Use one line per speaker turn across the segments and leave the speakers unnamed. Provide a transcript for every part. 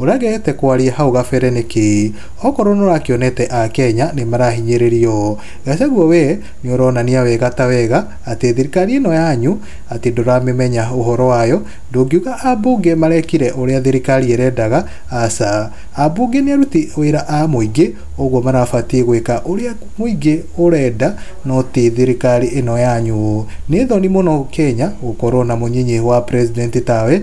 Ũregete kwaria hau gabere nĩkĩ? Okorwo nũrakĩonete a Kenya nĩmarahinyĩrĩrio. Gachagua we nĩũronania wega ta wega atĩ thirikari ĩno yanyu atĩ ndũramĩmenya ũhoro wayo, ndũngiuga ambunge marekire ũrĩa thirikari ĩrendaga, aca. Ambunge nĩ aruti wĩra a mũingĩ ũguo marabatiĩ gwĩka ũrĩa mũingĩ ũrenda no ti thirikari ĩno yanyu. Nĩ thoni mũno Kenya gũkorwo na mũnyinyi wa president tawe.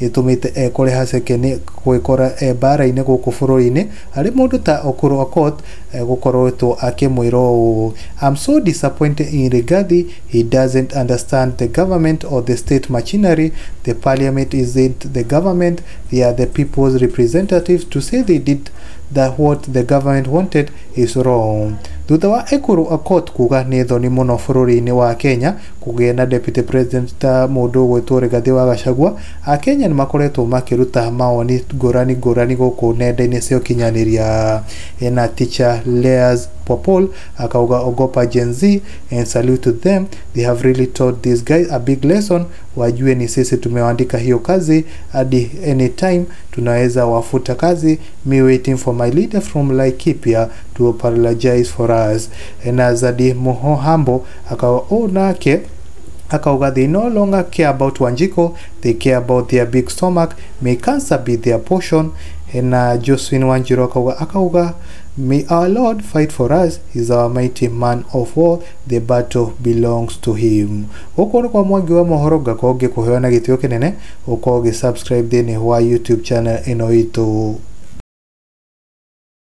ĩtũmĩte ekore haceke nĩ gwĩkora e mbaara-inĩ gũkũ bũrũri-inĩ arĩ mũndũ ta Okuru Aukot gũkoretwo akĩmwĩra ũũ, I'm so disappointed in Rigathi, he doesn't understand the government or the state machinery, the parliament isn't the government, they are the people's representatives, to say they did the what the government wanted is wrong. Thutha wa Ekuru Aukot kuuga nĩ thoni mũno bũrũri-inĩ wa Kenya kũgĩe na deputy president ta mũndũ ũgwĩtwo Rigathi wa Gachagua, Akenya nĩ makoretwo makĩruta mawoni ngũrani ngũrani gũkũ nenda-inĩ cia ũkinyanĩria. Ena teacher Leah's Popol akauga ogopa Gen Z and salute to them, they have really taught these guys a big lesson, wajue ni sisi tumewaandika hiyo kazi hadi anytime tunaweza wafuta kazi, me waiting for my leader from Laikipia to apologize for us. Ena Zadi Muhohambo Akauga ũũ nake, akauga they no longer care about Wanjiko, they care about their big stomach, may cancer be their portion. Na Josephine Wanjiru akauga, akauga may our Lord fight for us, he is our mighty man of war, the battle belongs to him. Gũkũ nĩ kwa Mwangi wa mohoro ngakorwo ngĩkũheo na gĩtĩo kĩnene ũkorwo ũgĩ subscribe thĩinĩ wa YouTube channel ĩno itũ.